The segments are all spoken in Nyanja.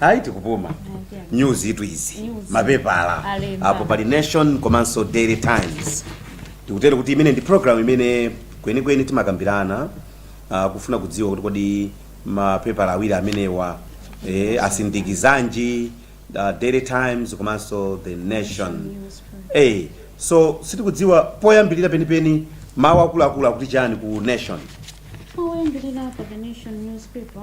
ayi tikupuma news itu izi News. mapepala Alemba. apo pali nation komanso daily times tikutere kuti imeneyi ndi program imene kwenikweni timakambirana uh, kufuna kudziwa kuti kodi mapepala awiri amenewa eh, asindikizanji uh, daily times komanso the nation hey, so sitikudziwa poyambirira penipeni mawu akuluakulu akuti chani ku nation oyambirira pa the nation newspaper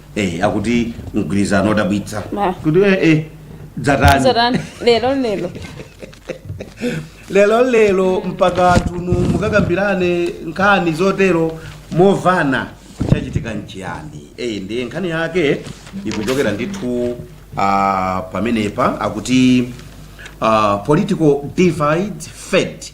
Eh, akuti mgwirizano odabwitsa Ah. kuti eh, eh, dzatani lero lero lero lero mpaka atuno mukakambirane nkhani zotero momvana chachitika nchiyani eyi ndiye nkhani yake ikuchokera ndithu ah, pamenepa akuti ah, political divide fades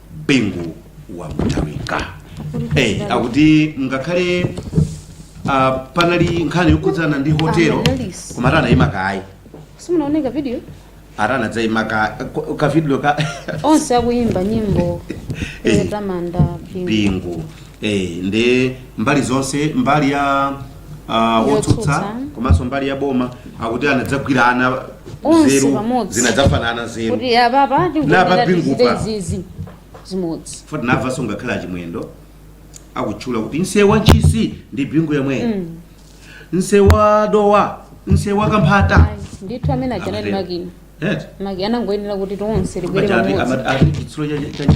bingu wa Mutharika hey, akuti ngakhale uh, panali nkhani yokhudzana ndi hotelo koma atanaima kayi simunaone ka video atanadzaima ka kavidiyo ka onse akuyimba nyimbo Eh. yotamanda bingu bingu Eh, ndi mbali zonse mbali ya uh, wotsutsa komanso mbali ya boma akuti anadzagwirana nzeru zinadzafanana nzeru kuti apapa pa Bingu zimodzi foti navanso ngakhale achimwendo akutchula kuti nsewu wa ntchisi ndi bingu yemweyo mm. nsewu wa dowa nsewu wa kamphata ndithu amene aja anali makina makina anangoyenera kuti tonse tibwere pamodzi chitsulo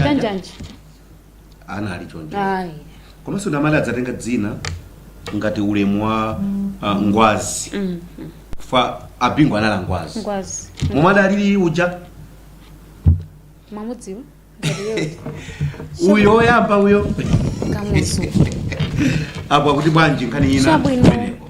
cha njanji anali choncho ayi komanso nda amati adzatenga dzina ngati ulemu wa ah, ngwazi paja a Bingu anali a ngwazi ngwazi momwe adalili uja mwamudziwa uyo oyamba uyo kamuzu apo akuti bwanji nkhani ina Chabwino. kumeneko.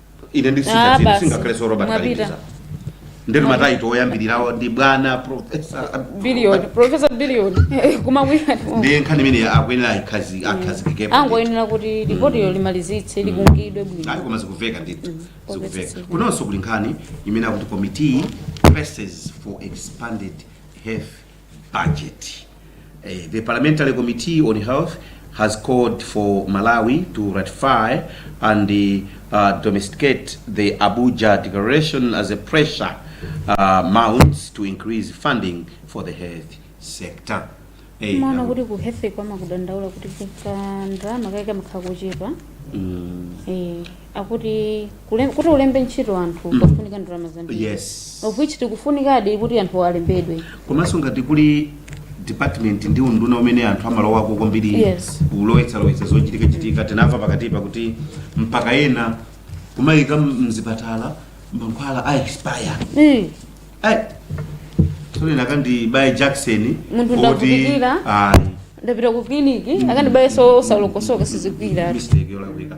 ine Ah, ndisingati basi. singakhale so robert Mwapita. Kalindiza ndetu mataito oyambirirawo ndi bwana profesa billion professor billion kumawira ndiye nkhani imeneyi akuyenera aikazi- akhazikikepo angoyenera kuti lipotilo limalizitse likonzedwe ayi bwino koma zikumveka ndithu Popeza zikumveka zikumveka. kunonso kuli nkhani imene akuti committee presses for expanded health budget. Uh, the Parliamentary Committee on Health has called for Malawi to ratify and uh, domesticate the Abuja Declaration as a pressure uh, mounts to increase funding for the health sector. Hey, maona kuti ku hefe kwama kudandaula kuti kuka ndalama kaika mkhakuchepa mm. eh akuti kule- kuti ulembe ntchito anthu Mm. pafunika ndalama zambiri yes of which tikufunikadi kuti anthu alembedwe komanso ngati kuli department ndi unduna umene anthu amalowako kwambiri Yes. kulowetsalowetsa zochitika chitika tinamva pakatipa kuti mpaka ena kumayika mzipatala mankhwala a expire Eh, Ai, tsono nakandibaya jakisoni Munthu oti- ndavutikira. Ai, ndapita ku kiliniki akandibayenso osalokosoka sizigwira mistake yolakwika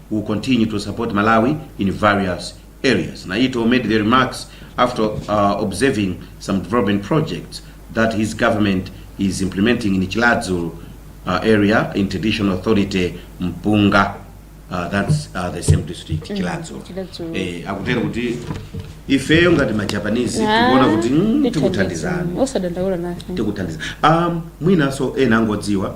will continue to support Malawi in various areas. Naito made the remarks after uh, observing some development projects that his government is implementing in Chiradzulu uh, area in traditional authority Mpunga. Uh, that's uh, the same district Chiradzulu. Chiradzulu. Eh, akutero kuti ifeyo ngati majapanese tikuona kuti mm, tikuthandizana osadandaula nafe tikuthandiza um, mwinanso ena angodziwa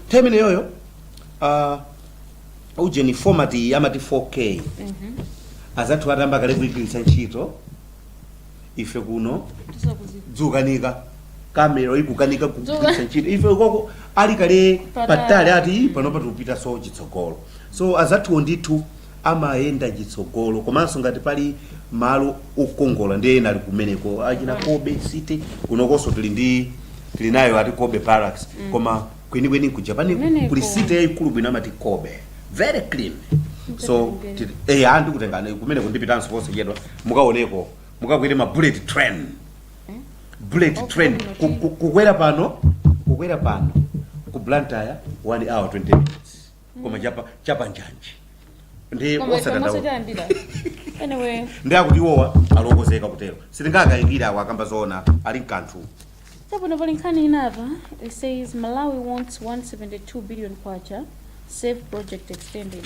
nthawi imeneyoyo ah, ujeni format ya amati 4k azathuwa atayamba kale kuigwiritsa ntchito ife kuno dzukanika kamera ikukanika kugwiritsa ntchito ife koko ali kale Patali. patali ati "Ih, panopa tupitaso chitsogoloso azathuwo ndithu amayenda chitsogolo komanso ngati pali malo okongola ndiye ena ali kumeneko monga achina kobe city kunokonso tili ndi tili nayo ati kobe barracks koma kwenikweni ku japan Kumeneko. kuli city yayikulu bwino amati kobe very clean so tili- eh anthu kutengana kumeneko ndipitanso konse chedwa mukaoneko mukakwere ma bullet train bullet train ku- ku- kukwera pano kukwera pano ku blantyre 1 hour 20 minutes koma chapa chapa njanji ndi Koma osadandaula kamaso chayambira. Anyway, ndi akuti iwowa ali okonzeka kutero sitingakayikira awo akamba zoona ali mkanthu Chabwino pali nkhani ina apa, it says Malawi wants 172 billion kwacha, safe project extended.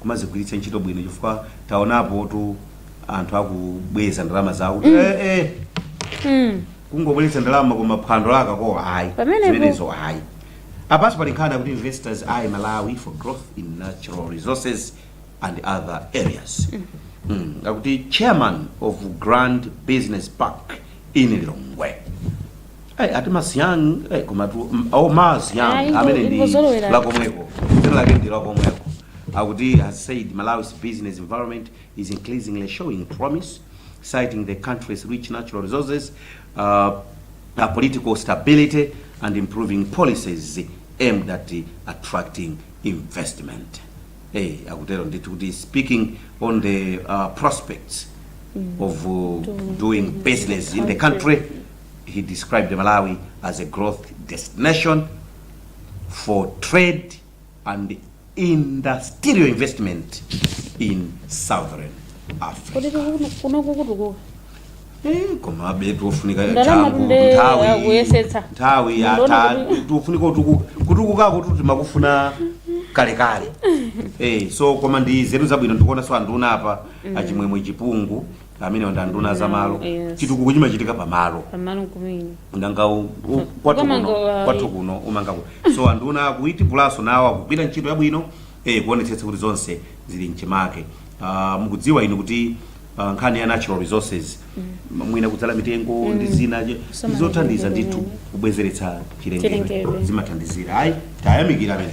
kumazigwiritsa ntchito bwino chifukwa taonapotu anthu akubweza ndalama zawo kuti eh, eh, Mm. kungobweretsa ndalama koma phwando lakakoko ayi Pamenepo. zimenezo ayi apanso pali nkhani akuti investors eye malawi for growth in natural resources and other areas mm. akuti chairman of grand business park in lilongwe Ai, ati masiyang eh, koma tu mm, oh, masiyang Ah, ingo- ameneyo ndi ingozolowera. lakomweko dzina lake ndi lakomweko akuti has said malawi's business environment is increasingly showing promise citing the country's rich natural resources uh, uh, political stability and improving policies aimed at attracting investment hey, akutero ndithu kuti speaking on the uh, prospects of uh, doing business in the country he described Malawi as a growth destination for trade and industrial investment in southern Africa. kodi kunoku kutukuka Eh, koma abetu ofunika Ndalama changu, tunde nthawi- akuyesetsa. nthawi Ndona yata kuti- kufunika kutuku- kutukukakotu timakufuna kalekale Eh, so koma ndi nzeru zabwino ndikuonaso anduna apa achimwemwe chipungu amenewa ndi anduna za malo Yes. chitukuko chimachitika pa malo pamalo kumene nanga u- u- Kwa- kwathu koma kuno ngo- kwathu kuno umanga ku so anduna akuiti pulawo nawo akugwira ntchito yabwino eh kuonetsetsa kuti zonse zili mchimake Ah, mukudziwa inu kuti ah, nkhani ya natural resources mwina kudzala mitengo ndi zina je- Kusamala zothandiza mitengo ndithu imene. kubwezeretsa chilengedwe Chilengedwe. zimathandizira ayi tayamikira amene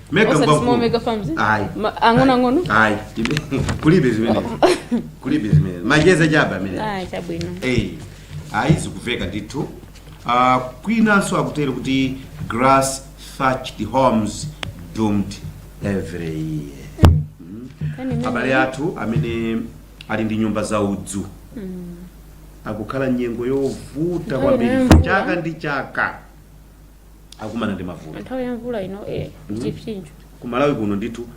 mega Osati ngwa small mkulu. mega farms. Ayi. Ma- ang'onoang'ono? Ayi. kulibe zimene kulibe zimene macheza chaba amene Ah, chabwino. Eh, ayi zikumveka ndithu Ah, kwinanso akutero kuti grass thatched homes doomed every year Kani mimi- abale athu amene ali ndi nyumba za udzu akukhala nyengo yovuta Nthawi kwambiri ino yamvula. chaka ndi chaka akumana ndi mavuto nthawi ya mvula ino eh, chipsinjo ku malawi kuno ndithu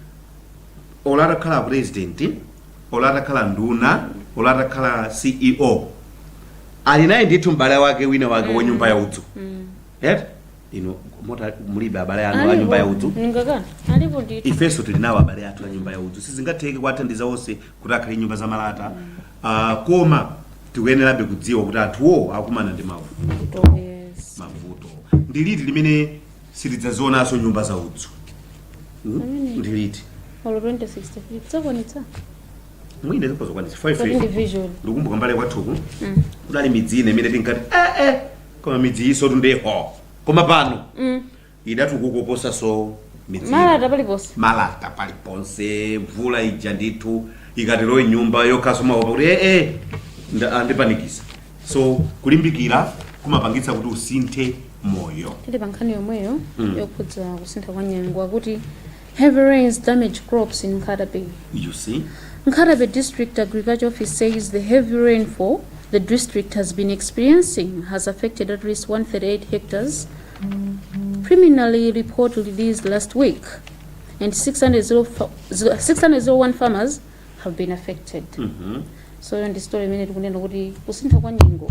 olo atakhala president olo atakhala nduna olo atakhala ceo ali naye ndithu m'bale wake wina wake wa nyumba ya udzu eti inu Mota mulibe abale anu a nyumba ya udzu ningakana alipo ndithu ifenso tili nawo abale athu a nyumba ya udzu sizingatheke kuwathandiza onse kuti akhale nyumba za malata Uh, koma tikuyenerabe kudziwa kuti anthuwo akumana ndi mavuto yes. mavuto ndi liti limene sitidzazionanso nyumba za udzu hmm? Amene. ndi liti olo 2063 tidzakwanitsa mwina tidzakwanitsa kodi ndi 5 vision ndikumbuka m'mbali kwathuku Mm. kudali midzi ina imene tinkati ee koma midzi iyisotu ndeyo koma pano Mm. idatukuka koposanso midzimu. Malata paliponse. malata paliponse mvula ija ndithu ikatilowe mnyumba yokhaso umaopa kuti ee nda- andipanikiza so kulimbikira kumapangitsa kuti usinthe moyo tili pa nkhani yomweyo Mm. yokhudza kusintha kwa nyengo akuti heavy rains damage crops in Nkhatabay you see Nkhatabay District Agriculture Office says the heavy rainfall the district has been experiencing has affected at least 138 hectares preliminary report released last week, and 600 zero fa- zero- 601 farmers have been affected. Mhm. So iyo ndi story imene tikunena kuti kusintha kwa nyengo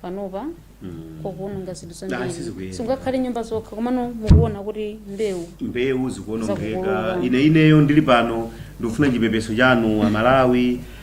panopa Mm. kukuononga zinthu Ah, zambiri sizikuyenda. singakhale nyumba zokha komano mukuona kuti mbewu mbewu zikuonongeka Zakukolola. ine ineyo ndili pano ndikufuna chipepeso chanu amalawi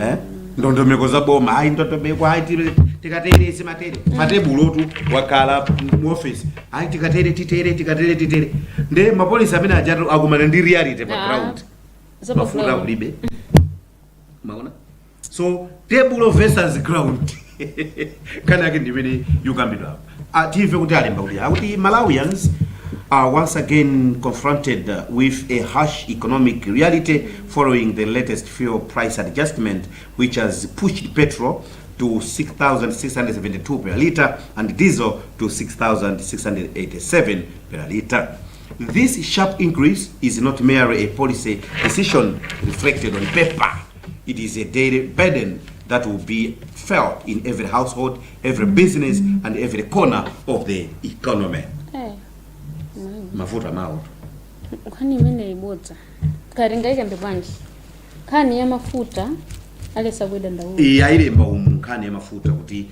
eh? ndondomeko za boma ayi ndondomeko ayi tire- tikatere timatere patebulotu takhala muofisi ayi tikatere titere tikatere titere nde mapolisi amene ajatu akumana ndi reality pa Ah. ground Za pa mafuta ground. kulibe mwaona so table versus ground nkhani yake ndimene yukambidwa apa Ah, timve kuti alemba kuti akuti malawians are once again confronted uh, with a harsh economic reality following the latest fuel price adjustment which has pushed petrol to 6672 per litre and diesel to 6687 per litre this sharp increase is not merely a policy decision reflected on paper It is a daily burden that will be felt in every household, every business, and every corner of the economy. Eh, Mafuta amenewo. nkhani imene ibodza kuti tingaikambe bwanji nkhani ya mafuta aleza kuidandaula Iyi ayilemba umu nkhani ya mafuta kuti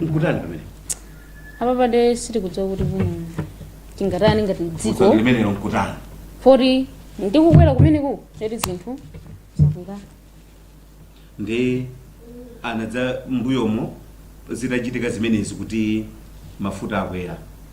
nkutani pamenepa panopa sitikudziwa kuti mm, tingatani ngati dziko limenelo nkutani poti ndikukwera kumeneku eti zinthu zakwera ndiye adadza mbuyomo zitachitika zimenezi kuti mafuta akwera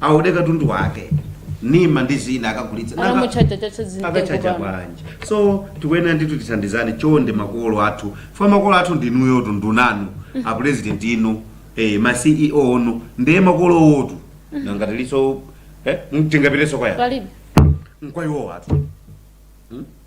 aode katundu wake ndi mandizina akagulitsa Nanga- Akamuchaja chacha zinthu akachaja kupanga. bwanji so tikuyenera ndithu tithandizane chonde makolo athu ife makolo athu ndinuyotu nduna inu a president inu eh, ma ceo inu ndiye makolo athu nanga tilinso eh, tingapitenso kwani Palibe. nkwa iwo athu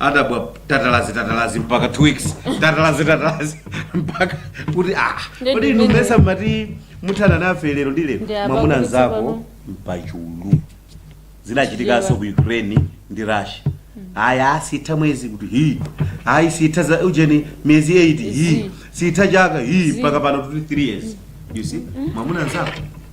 adabwa tatalazi tatalazi mpaka two weeks tatalazi tatalazi mpaka kuti ah Ndi kodi inu ndimene- ndimayesa mmati muthana nafe lero ndi Ndi lero apa mwamuna kuti nzako tsopano. mpachulu zinachitikanso ku ukraine ndi russia ayi siitha mwezi kuti hi ayi siitha za ujeni miyezi 8 hi siitha chaka hi mpaka pano kuti 3 years you see mwamuna nzako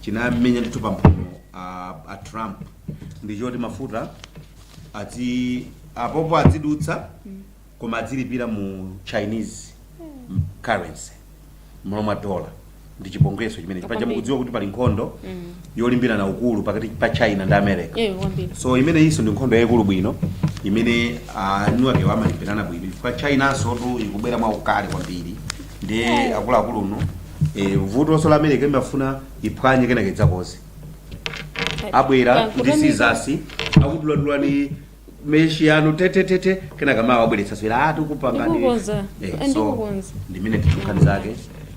chinammenya ndithu pamphuno a, a trump ndichoti mafuta ati apopo adzidutsa koma adzilipira mu chinese currency mmalo mwa dollar ndi chipongweso chimene paja mukudziwa kuti pali nkhondo yolimbirana ukulu pakati pa china ndi america Eh, kwambiri. so imeneyonso ndi nkhondo yayikulu bwino imene eni ake amalimbirana bwino chifukwa chinansotu ikubwera mwaukali kwambiri ndiye akuluakulu inu Eh, vutonso la america imafuna iphwanye kenaka idzakonze abwera ndi sizasi akuduladula neti meshi yanu tetetete kenaka mawa abweretsanso ati kupanga ndi- Ndikukonza. Eh, so Ndikukonza. ndi mmene nkhani zake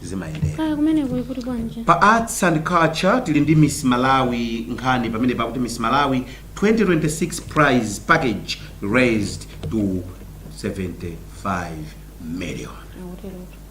zimayendera kaya kumene kuli kuti bwanji pa arts and culture tili ndi miss malawi nkhani pamene pakuti miss malawi 2026 prize package raised to 75 million akuterotu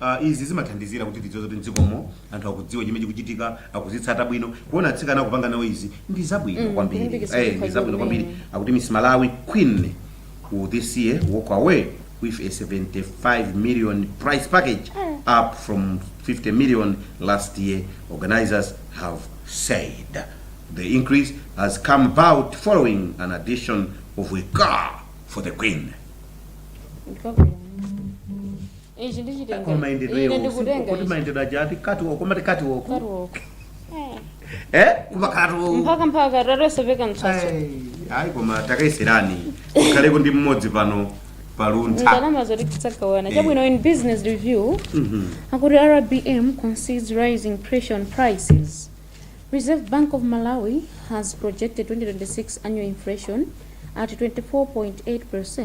Uh, izi zimathandizira kuti tidziwe zoti mdzikomo anthu akudziwa chimene chikuchitika akuzitsata bwino kuona atsikana akupanga nawo izi ndi zabwino Mm, kwambiri kulimbikitsa Eh, ndi chikhalidwe zabwino kwambiri kumene. akuti miss malawi queen will this year walk away with a 75 million prize package up from 50 million last year organizers have said the increase has come about following an addition of a car for the queen Ndi zabwino. Ichi ndi chitenga. Koma mayendedwe Ine iwo ndikutenga kuti ichi. mayendedwe aja ati kati woko mati kati woko. Katuwo. Eh? Kuba kati woko. Mpaka mpaka tatsopeka mtsatso. Ayi koma takaiserani. Kaleko ndi mmodzi pano paluntha. Ndalama zoti tisagawana. Chabwino in business review. Mhm. Akuti RBM concedes rising pressure on prices. Reserve Bank of Malawi has projected 2026 annual inflation at 24.8%,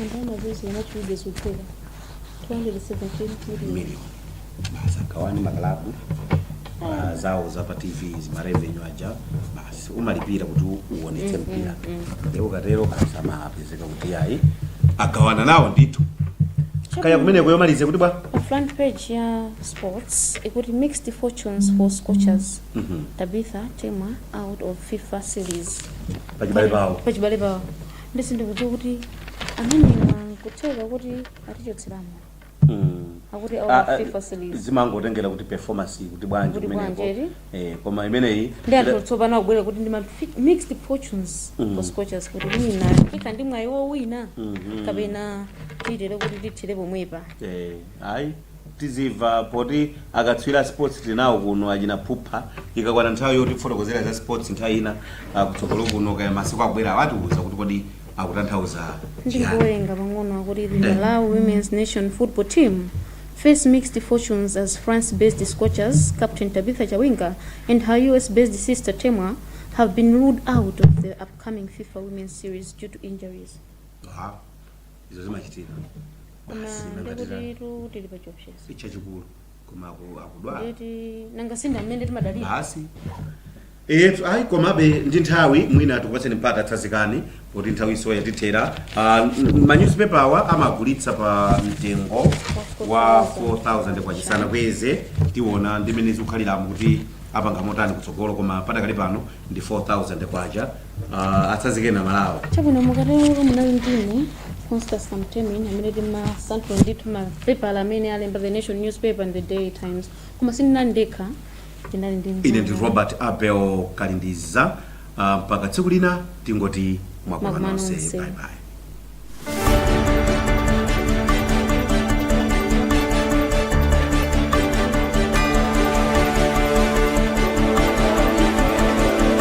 anthu amazunzika machulidwe zotheka 217 million million basi agawane makalabu ah, zawo za pa tv zimarevenue aja basi umalipira kuti uonetse mpira nde ukatero basi amapezeka kuti ayi agawana nawo ndithu kaya kumeneko yomaliza ikuti bwa pa front page ya sports ikuti mixed fortunes for scorchers tabitha temwa out of fifa series pachibale pawo pachibale pawo ndi sindikudziwa kuti amenewa nkutheka kuti atichotseramo Mm. akuti Ah, our ah, fifa series zimangotengera kuti performance kuti bwanji Kuti kumeneko bwanji, eti? eh, koma imeneyi ndi atsopano akubwera kuti ndi ma fi- mixed fortunes Mm. for scorchers kuti mwina ikhala ndi mwayi wowina Mhm. kapena titere kuti tithire pomwepa eh, ayi tidziwa poti akatswiri a sports tinawo kuno achina phupha ikakwana nthawi yotifotokozera za sports nthawi ina ah, kutsogolo kuno kaya masiku akubwerawa atiuza kuti kodi akutanthauza chiyani ndikuwerenga pang'ono akuti the malawi women's nation football team face mixed fortunes as france based scorchers captain tabitha chawinga and her us based sister temwa have been ruled out of the upcoming fifa women's series due to injuries Ah. izo zimachitika koma basi nanga ndikuti titani? tu tili pa chiopsezo si chachikulu koma aku- akudwala eti nanga si nda amene timadalira basi etu ayi komabe ndi nthawi mwina tikupatseni mpata tsazikani poti nthawi nso yatithera Ah, n- manyuzipepa awa amagulitsa pa mtengo wa 4000 kwacha sanakweze tiona ndi mmene zikukhaliramu kuti apanga motani kutsogolo koma padakali pano ndi 4000 kwacha uh, atsanzikeni amalawi chabwino mukatero munali ndine constance kamtemin amene timasanthula ndithu mapepala amene alemba a the nation newspaper and the daily times koma sindinali ndekha ndinali ndi ine ndi mzanga. robert abel kalindiza uh, mpaka tsiku lina tingoti mwakoma Mwakoma nonse nonse. bye bye